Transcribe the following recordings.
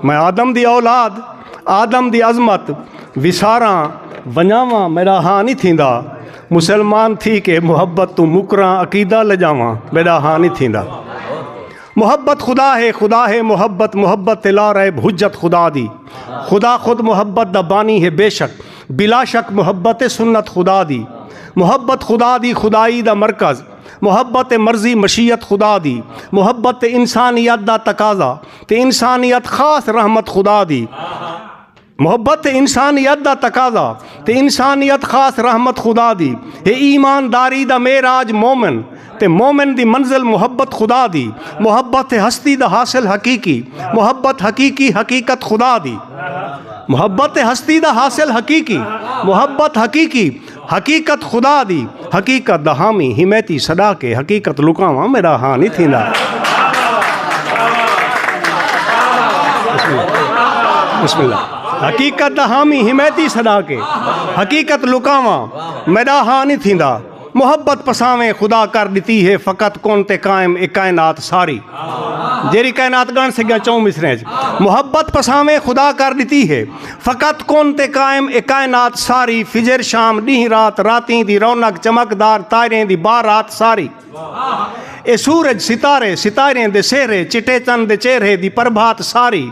میں آدم دی اولاد آدم دی عظمت وساراں ونجاواں میرا ہاں نہیں تھیندا مسلمان تھی کے محبت تو مکراں عقیدہ لجاواں میرا ہاں نہیں تھیندا محبت خدا ہے خدا ہے محبت محبت تے لا رہے حجت خدا دی خدا خود محبت دا بانی ہے بے شک بلا شک محبت سنت خدا دی محبت خدا دی خدائی دا مرکز محبت مرضی مشیت خدا دی محبت انسانیت دا تقاضا تے انسانیت خاص رحمت خدا دی محبت انسانیت دا تقاضا تے انسانیت خاص رحمت خدا دی اے ایمانداری دا معراج مومن تے مومن دی منزل محبت خدا دی محبت ہستی دا حاصل حقیقی محبت حقیقی حقیقت خدا دی محبت ہستی دا حاصل حقیقی محبت حقیقی حقیقت خدا دی حقیقت دا حامی حمیتی سڈا کے حقیقت لکاواں میرا ہاں نہیں تھیندا بسم اللہ حقیقت دا حامی حمیتی سڈا کے حقیقت لکاواں میرا ہاں نہیں تھیندا محبت پساویں خدا کر دیتی ہے فقط کون تے قائم ایک کائنات ساری جیری کائنات گان سے گیا چون مصرے محبت پساویں خدا کر دیتی ہے فقط کون تے قائم اے کائنات ساری فجر شام ڈینہہ رات راتیں دی رونق چمک دار تائریں دی با رات ساری اے سورج ستارے ستائریں دے سہرے چٹے چن دے چہرے دی پربھات ساری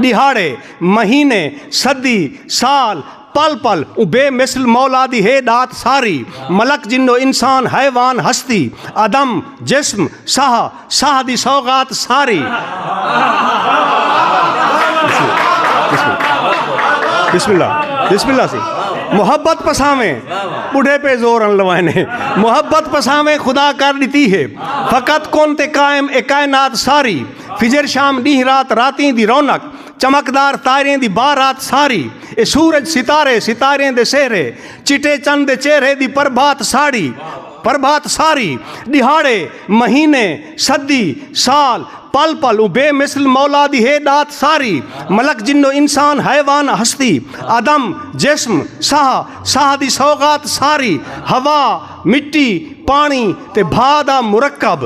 ڈیہاڑے مہینے صدی سال پل پل اوں بے مثل مولا دی ہے ڈات ساری ملک جنو انسان حیوان ہستی عدم جسم ساہ ساہ دی سوغات ساری بسم اللہ بسم اللہ سی محبت پساویں بڑھے پہ زور ان لوائے نے محبت پساویں خدا کر دیتی ہے فقط کون تے قائم اے کائنات ساری فجر شام نیہ رات راتیں دی رونق چمکدار تائریں دی بار رات ساری اے سورج ستارے ستاریں دے سہرے چٹے چند دے چہرے دی پربھات ساڑی پربھات ساری، ݙیہاڑے، مہینے، صدی، سال، پل پل اوں بے مثل مولا دی ہے ݙات ساری، ملک جنوں انسان، حیوان، ہستی، عدم، جسم، ساہ، ساہ دی سوغات ساری، ہوا، مٹی، پاݨی تے بھاء دا مرکب،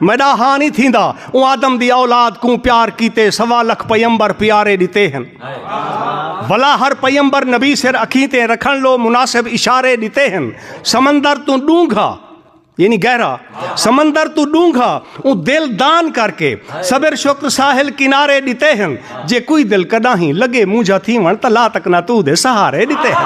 میڈا ہاں نہیں تھیندا اوں آدم دی اولاد کوں پیار کیتے سوا لکھ پیمبر پیارے ڈتے ہن ولا ہر پیمبر نبی سر اکھیتے رکھن لو مناسب اشارے ڈتے ہن سمندر تو ڈونگھا یعنی گہرا سمندر تو ڈونگھا اوں دل دان کر کے صبر شکر ساحل کنارے ڈتے ہن جے کوئی دل کڈاہیں لگے مونجھا تھیون تاں لا تک ناتو دے سہارے ڈتے ہیں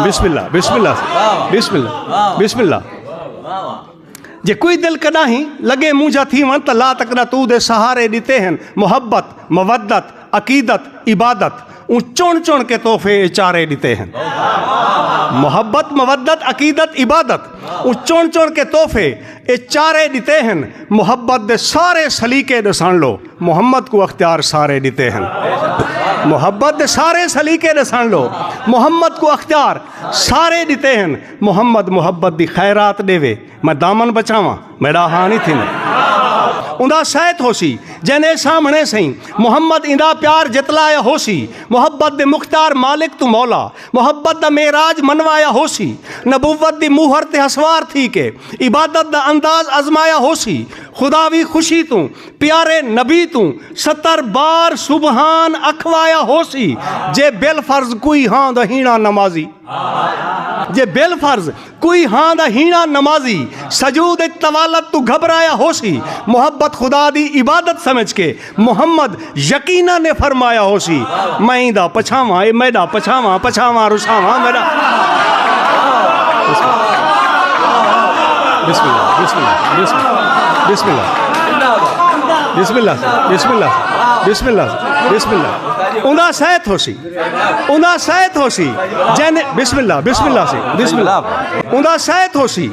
بسم اللہ بسم اللہ بسم اللہ بسم اللہ جے کوئی دل کڈاہیں لگے مونجھا تھیون تاں لا تک ناتو دے سہارے ڈتے ہیں محبت مودت عقیدت، عبادت اوں چن چن کے تحفے اچارے ڈتے ہن محبت مودت عقیدت عبادت اوں چن چن کے تحفے اچارے ڈتے ہن محبت دے سارے سلیقے ڈسن لو محمد کو اختیار سارے ڈتے ہن محبت دے سارے سلیقے ڈسن لو محمد کو اختیار سارے ڈتے ہن محمد محبت دی خیرات ڈے وے میں دامن بچاواں میڈا ہاں نہیں تھیندے اندا سیت ہوسی جن اے سامنے سئیں محمد اندا پیار جتلایا ہوسی محبت دے مختار مالک تو مولا محبت دا معراج منوایا ہوسی نبوت دی موہر تے ہسوار تھی کے عبادت دا انداز ازمایا ہوسی خدا وی خوشی توں پیارے نبی توں ستر بار سبحان اکھوایا ہوسی جے بل فرض کوئی ہاں دا ہینا نمازی جے بل فرض کوئی ہاں دا ہیݨاں نمازی سجود اچ طوالت توں گھبرایا ہوسی، محبت خدا دی عبادت سمجھ کے محمد یقینا نے فرمایا ہوسی، میں ایں دا پچھاواں اے میݙا پچھاواں پچھاواں رساواں میݙا۔ اونداسیت ہوسی۔ اوندا سیت ہوسی جن بسم اللہ بسم اللہ سی بسم اللہ اوندا سیت ہوسی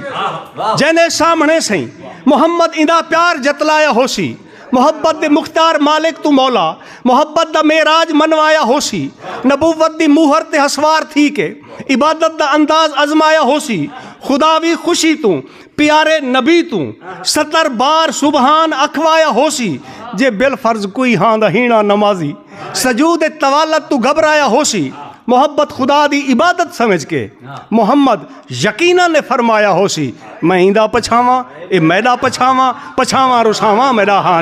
جن اے سامنے سیں محمد ایندا پیار جتلایا ہوسی محبت دے مختار مالک تو مولا محبت دا معراج منوایا ہوسی نبوت دی موہر تے حسوار تھی کے عبادت دا انداز ازمایا ہوسی خدا وی خوشی تو پیارے نبی توں ستر بار سبحان اکھوایا ہوسی جے بالفرض کوئی ہاں دا ہینا نمازی سجود طوالت توں گھبرایا ہوسی محبت خدا دی عبادت سمجھ کے محمد یقینا نے فرمایا ہوسی میں ایندا پچھاواں اے میڈا پچھاواں پچھاواں رساواں میڈا ہاں